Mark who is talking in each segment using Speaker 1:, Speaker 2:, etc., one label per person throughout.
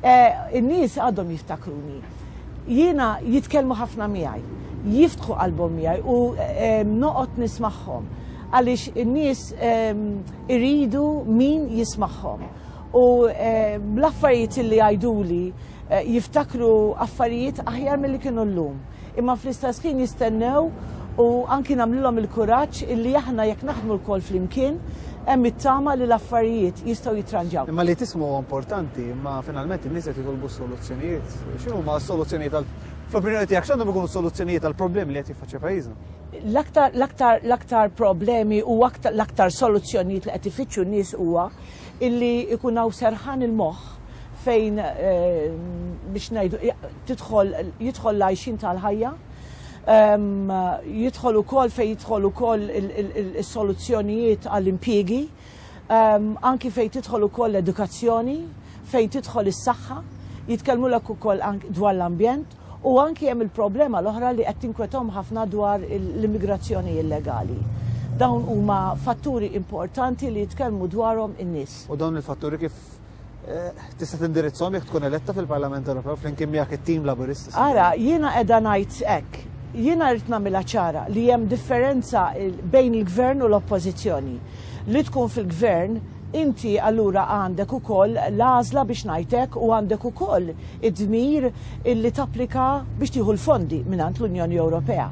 Speaker 1: In-nies għadhom jiftakruni. Jiena jitkellmu ħafna miegħi, jiftħu qalbhom miegħi u noqgħod nismagħhom għaliex in-nies iridu min jismagħhom. U l-affarijiet li jgħiduli jiftakru affarijiet aħjar milli kienu llum. imma fl-istess ħin jistennew u anki nagħmlilhom il-kuraġġ illi aħna jekk naħdmu lkoll flimkien hemm it-tama li l-affarijiet jistgħu jitranġaw. Imma li tisma' huwa
Speaker 2: importanti, imma finalment in-nies qed jitolbu s-soluzzjonijiet. X'inhuma s-soluzzjonijiet għal fl-opinjoni tiegħek x'għandhom ikunu s-soluzzjonijiet għall-problemi li qed jiffaċċja pajjiżna? L-aktar l-aktar
Speaker 1: l-aktar problemi u aktar l-aktar soluzzjonijiet li qed ifittxu n-nies huwa illi jkun hawn serħan il-moħħ fejn biex ngħidu tidħol jidħol l-għajxien tal-ħajja, jidħol ukoll fejn jidħol ukoll is-soluzzjonijiet għall-impjiegi, anki fejn tidħol ukoll l-edukazzjoni, fejn tidħol is-saħħa, jitkellmulek ukoll dwar l-ambjent u anki hemm il-problema l-oħra li qed tinkwetahom ħafna dwar l-immigrazzjoni illegali. Dawn huma fatturi importanti li jitkellmu dwarhom in-nies. U dawn il-fatturi kif
Speaker 2: tista' tindirizzhom jekk tkun eletta fil-Parlament Ewropew flimkien miegħek it-tim Laburist. Ara, jiena qiegħda
Speaker 1: ngħid hekk. Jiena rrid nagħmilha ċara li hemm differenza bejn il-Gvern u l-Oppożizzjoni. Li tkun fil-Gvern inti allura għandek ukoll l-għażla biex ngħid hekk u għandek ukoll id-dmir illi tapplika biex tieħu l-fondi mingħand l-Unjoni Ewropea.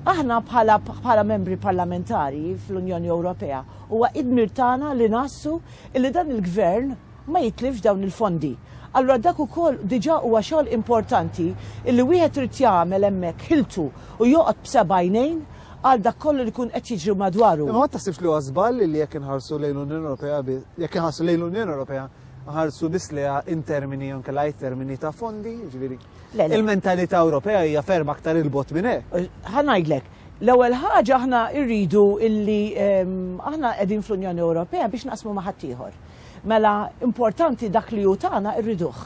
Speaker 1: Aħna bħala membri parlamentari fl-Unjoni Ewropea huwa id-dmir tagħna li nassu illi dan il-Gvern ma jitlifx dawn il-fondi. Allura dak ukoll diġà huwa xogħol importanti illi wieħed irid jagħmel hemmhekk ħiltu u joqgħod b'seba' għajnejn għal dak kollu li jkun qed jiġri madwaru. Imma ma taħsibx li huwa żball
Speaker 2: illi jekk inħarsu lejn l-Unjoni Ewropea bi, jekk inħarsu lejn l-Unjoni Ewropea nħarsu biss lejha in termini jew inkella għajr termini ta' fondi, jiġifieri, Il-mentalità Ewropea hija ferm aktar 'il bogħod minn hekk. Ħa ngħidlek,
Speaker 1: l-ewwel ħaġa aħna rridu illi aħna qegħdin fl-Unjoni Ewropea biex naqsmu ma' ħaddieħor. Mela importanti dak li hu tagħna rriduh.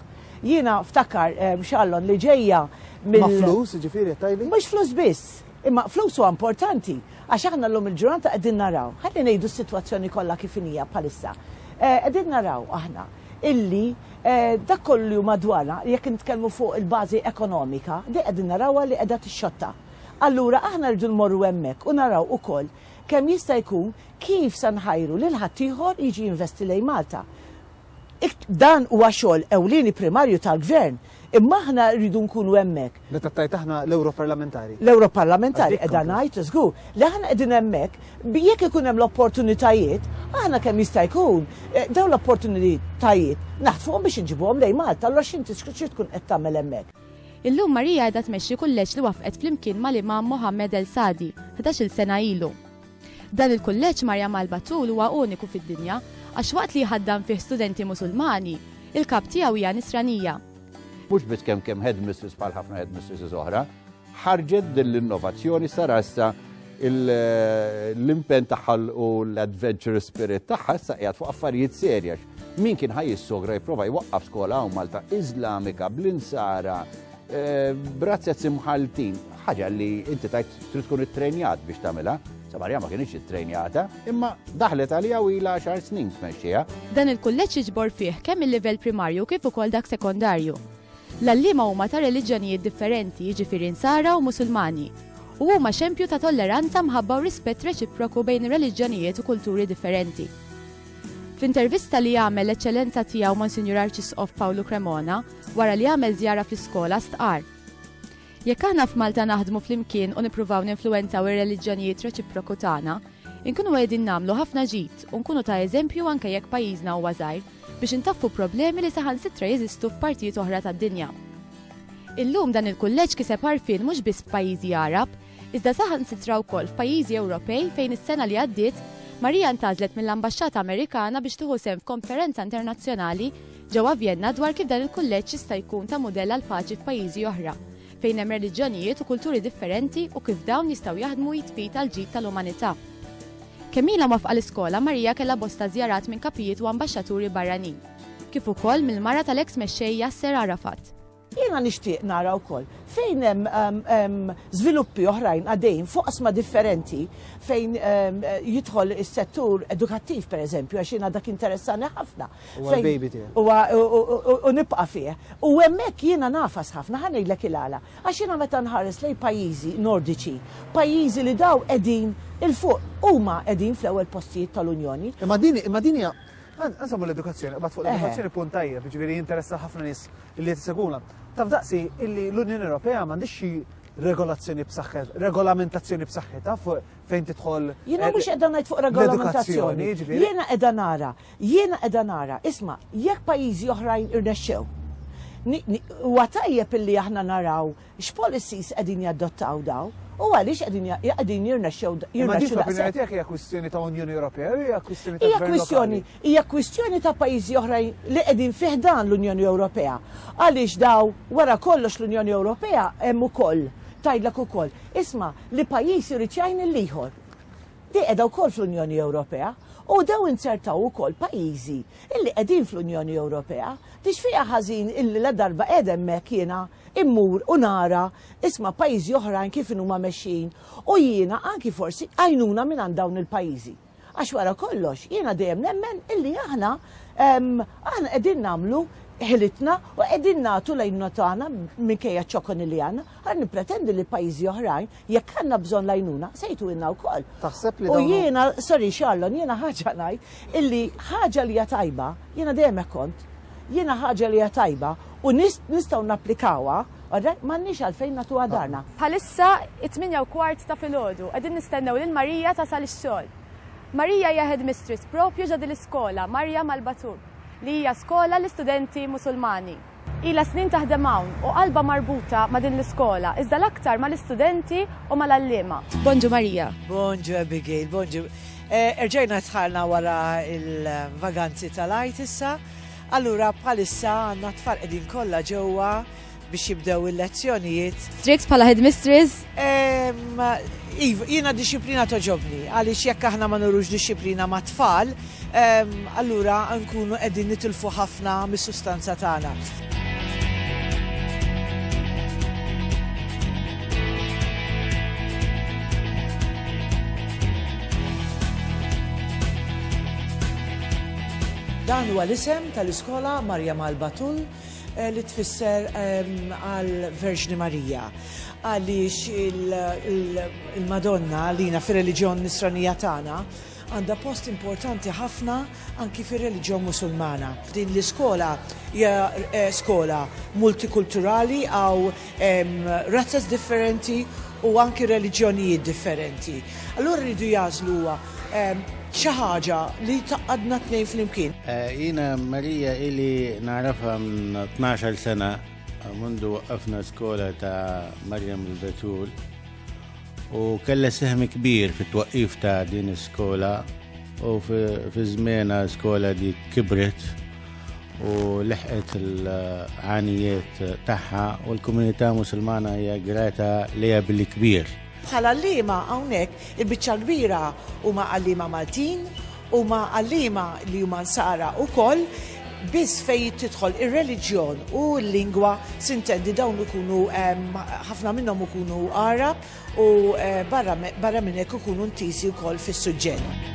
Speaker 1: Jiena ftakar, Shallon, li ġejja mill. Ma' flus,
Speaker 2: jiġifieri qed tgħidli? Mhux flus biss.
Speaker 1: Imma flus huwa importanti għax aħna llum il-ġurnata qegħdin naraw, ħalli ngħidu s-sitwazzjoni kollha kif inhi bħalissa. Qegħdin naraw aħna illi dak kollu li hu madwarna, jekk nitkellmu fuq il-bażi ekonomika, din qegħdin narawha li qiegħda tixxotta. Allura aħna rridu nmorru hemmhekk u naraw ukoll kemm jista' jkun kif se nħajru lil ħaddieħor jiġi jinvesti lejn Malta. Dan huwa xogħol ewlieni primarju tal-Gvern, imma aħna rridu nkunu hemmhekk. Meta tgħid aħna
Speaker 2: l-Ewroparlamentari. L-Ewroparlamentari
Speaker 1: qiegħda ngħid, żgur, li aħna qegħdin hemmhekk bi jekk ikun hemm l-opportunitajiet, aħna kemm jista' jkun eh, dawn l-opportunitajiet naħtfuhom biex inġibuhom lejn Malta, allura x'inti xi tkun qed tagħmel hemmhekk? Illum Maria qiegħda
Speaker 3: tmexxi kulleġġ li waffqet flimkien mal-Imam Mohammed El Sadi, 11-il sena ilu. Dan il-kulleġġ Maryam al-Batul huwa uniku fid-dinja għax waqt li jħaddan fih studenti Musulmani, il-kap tiegħu hija Nisranija. Mhux biss
Speaker 4: kemm kemm headmistress bħal ħafna headmistresses oħra, ħarġet din l-innovazzjoni sara issa l-impen tagħha u l-adventure spirit tagħha issa qiegħed fuq affarijiet serja. Min kien ħaj jissogra jipprova jwaqqaf skola hawn Malta Iżlamika bl-insara Eh, brazzet simħaltin, ħaġa li inti tajt trid tkun ittrenjat biex tagħmilha. Samarja ma kienx ittrenjata, imma daħlet għalija u ilha xar snin tmexxiha. Dan il-kulleġġ
Speaker 3: jiġbor fih kemm il-livell primarju kif ukoll dak sekondarju. L-allima huma ta' reliġjonijiet differenti, jiġifieri nsara u musulmani, u huma xempju ta' tolleranza mħabba u rispett reċiproku bejn reliġjonijiet u kulturi differenti. F'intervista li għamel l-eċċellenza tiegħu Monsignor Arċisqof Pawlu Cremona, Wara li għamel żjara fl-iskola stqarr, Jekk aħna f'Malta naħdmu flimkien u nippruvaw ninfluwenzaw ir-reliġjonijiet reċiproku tagħna, inkunu qiegħdin nagħmlu ħafna ġid u nkunu ta' eżempju anke jekk pajjiżna huwa żgħir biex intaffu problemi li saħansitra jeżistu f'partijiet oħra tad-dinja. Illum dan il-kulleġġ kiseb għarfien mhux biss f'pajjiżi Għarab, iżda saħansitra wkoll f'pajjiżi Ewropej fejn is-sena li għaddiet Maria ntgħażlet mill-Ambaxxata Amerikana biex tieħu sehem f'konferenza internazzjonali ġewwa Vjenna dwar kif dan il-kulleġġ jista' jkun ta' mudell għall-paċi f'pajjiżi oħra fejn hemm reliġjonijiet u kulturi differenti u kif dawn jistgħu jaħdmu id f'id għall-ġid tal-umanità. Kemm ilha mwafqa l-iskola, Maria kellha bosta żjarat minn kapijiet u ambaxxaturi barranin, kif ukoll mill-mara tal-eks mexxej Yasser Arafat. Jiena
Speaker 1: nixtieq nara wkoll fejn hemm żviluppi oħrajn għaddejjin f'oqsma differenti fejn jidħol is-settur edukattiv pereżempju għax jiena dak interessani ħafna. Huwa l-baby tiegħek.
Speaker 2: Huwa u
Speaker 1: nibqa' fih. U hemmhekk jiena nafas ħafna ħa ngħidlek il-għala. Għax jiena meta nħares lejn pajjiżi Nordiċi, pajjiżi li dawn qegħdin 'il fuq, huma qegħdin fl-ewwel postijiet tal-Unjoni. Imma din hija
Speaker 2: Nsemmu l-edukazzjoni, qabad fuq l-edukazzjoni punt tajjeb, jiġifieri jinteressa ħafna nies li qed iseguna. Taf daqsi illi l-Unjoni Ewropea m'għandix xi regolazzjoni b'saħħet, regolamentazzjoni b'saħħitha fejn tidħol. Jiena eh, mhux qiegħda ngħid fuq
Speaker 1: regolamentazzjoni. Jiġifieri. Jiena qiegħda nara, jiena qiegħda nara, isma' jekk pajjiżi oħrajn irnexxew. Huwa tajjeb illi aħna naraw X'policies qegħdin jadottaw dawn u għaliex qegħdin qegħdin jirnexxew daqshekk? Imma din fl-opinjoni tiegħek
Speaker 2: hija kwistjoni ta' Unjoni Ewropea jew hija kwistjoni ta' gvern lokali? Hija kwistjoni
Speaker 1: ta' pajjiżi oħrajn li qegħdin fi ħdan l-Unjoni Ewropea. Għaliex dawn wara kollox l-Unjoni Ewropea hemm ukoll tgħidlek ukoll, isma' li pajjiż irid jgħin lill-ieħor. Hi qiegħda wkoll fl-Unjoni Ewropea u dew inzertaw ukoll pajjiżi illi qegħdin fl-Unjoni Ewropea. Tixfiha ħażin illi ladarba qiegħed hemmhekk jiena immur u nara isma' pajjiżi oħrajn kif inhuma mexjin u jiena anki forsi għajnuna mingħand dawn il-pajjiżi. Għax wara kollox jiena dejjem nemmen illi aħna aħna qegħdin nagħmlu ħilitna u qegħdin nagħtu l-għajnuna tagħna minkejja ċ-ċokoni li għandna. Ara nippretendi li pajjiżi oħrajn Jekk għandna bżonn l-għajnuna, se jtuilna wkoll. Taħseb li U dawn hum- jiena,
Speaker 2: sorry
Speaker 1: Charlon, jiena ħaġa ngħid illi ħaġa li hija tajba, jiena dejjem hekk kont, jiena ħaġa li hija tajba u nis- nistgħu napplikawha, all right, m'għandniex għalfejn nagħtuha darna. Bħalissa
Speaker 3: it-tmienja u kwart ta' filgħodu, qegħdin nistennew lil Marija tasal ix-xogħol. Marija hija headmistress proprju ġo din l-iskola, Marja Malbatub, li hija skola l-istudenti Musulmani. Ilha snin taħdem hawn u qalbha marbuta ma' din l-iskola, iżda l-aktar mal-istudenti u mal-għalliema. Bonġu Maria. Bonġu Abigail,
Speaker 1: bonġu. Erġajna dħalna wara l-vaganzi tal-Għid issa. Allura bħalissa għandna t-tfal qegħdin kollha ġewwa biex jibdew il-lezzjonijiet. Strix bħala
Speaker 3: headmistress Iva,
Speaker 1: jiena dixxiplina toġobni, għaliex jekk aħna ma nurux dixxiplina ma' tfal, allura nkunu qegħdin nitilfu ħafna mis-sustanza tagħna. Dan huwa l-isem tal-iskola Marjammalba Tull li tfisser għal Verġni Marija. Għaliex il-Madonna għalina fir-reliġjon nisranija tagħna għandha post importanti ħafna anki fir-reliġjon Musulmana. Din l-iskola hija eh, skola multikulturali għaw Hemm razzas differenti u anki reliġjonijiet differenti. Allura rridu jażlu huwa xi ħaġa li taqadna tnejn flimkien. Eh, jiena
Speaker 5: Marija ili narafha 12 sena mundu waqqafna skola ta' Marjam il-Betul u kella seħmi kbir fit-twaqqif ta' din is-skola U fi żmiena skola di kibret u leħqet il-ħanijiet tagħha u l-komunità musulmana hija grata li billi kbir. Bħala l-lima
Speaker 1: hawnhekk il-biċċa kbira huma għallima Maltin, huma għallima li huma nsara wkoll biss fej tidħol ir-reliġjon u l-lingwa sintendi dawn ikunu ħafna minnhom ikunu Arab u barra minn hekk ikunu ntiżi wkoll fis-suġġett.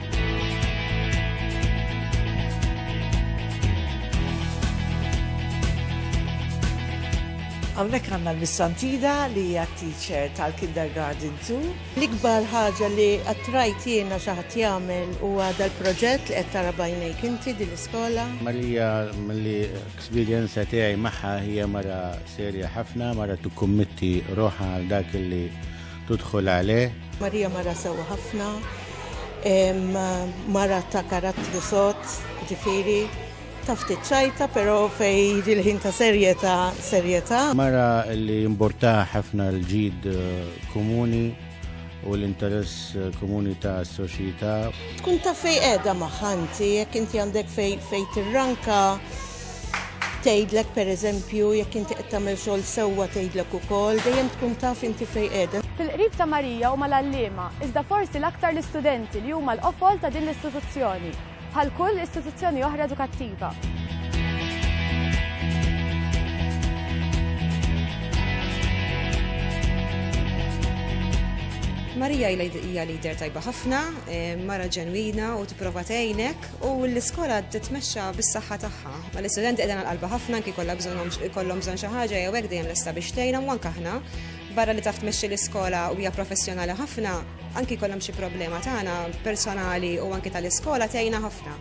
Speaker 1: Hawnhekk għandna l-Missantida li hija teacher tal-Kindergarten 2. L-ikbar ħaġa
Speaker 6: li attrajt jiena xi ħadd jagħmel huwa dal-proġett li qed tara bajnejk inti din l-iskola. Marija
Speaker 5: milli L-esperjenza tiegħi magħha hija mara serja ħafna, mara tikkummitti roħha għal dak li tudħol għalih. Marija mara sewwa ħafna,
Speaker 6: mara ta' karattru sod, ġifieri ta' ftit ċajta, però fej il-ħin ta' serjetà serjetà. Mara
Speaker 5: li jimborta ħafna l-ġid eh, komuni u l-interess eh, komuni ta' soċjetà. Tkun ta' fej
Speaker 6: qiegħda maħanti, jekk inti għandek fej fej tirranka tgħidlek pereżempju jekk inti qed tagħmel xogħol sewwa tgħidlek ukoll, dejjem tkun taf inti fej qiegħda. Fil-qrib ta' Marija
Speaker 3: huma l-għalliema, iżda forsi l-aktar l-istudenti li huma l-qofol ta' din l-istituzzjoni. bħal kull istituzzjoni oħra edukattiva.
Speaker 7: Marija hija lider tajba ħafna, eh, mara ġenwina u tipprova tgħinek u l-iskola titmexxa bis-saħħa tagħha. Ma l-istudenti qegħdin għal qalba ħafna anki kollha bżonn kollhom bżonn xi ħaġa jew hekk dejjem lesta biex tgħinha u anke aħna barra li taf tmexxi l-iskola u hija professjonali ħafna, Anki jkollhom xi problema tagħna personali u anki tal-iskola tgħinna ħafna.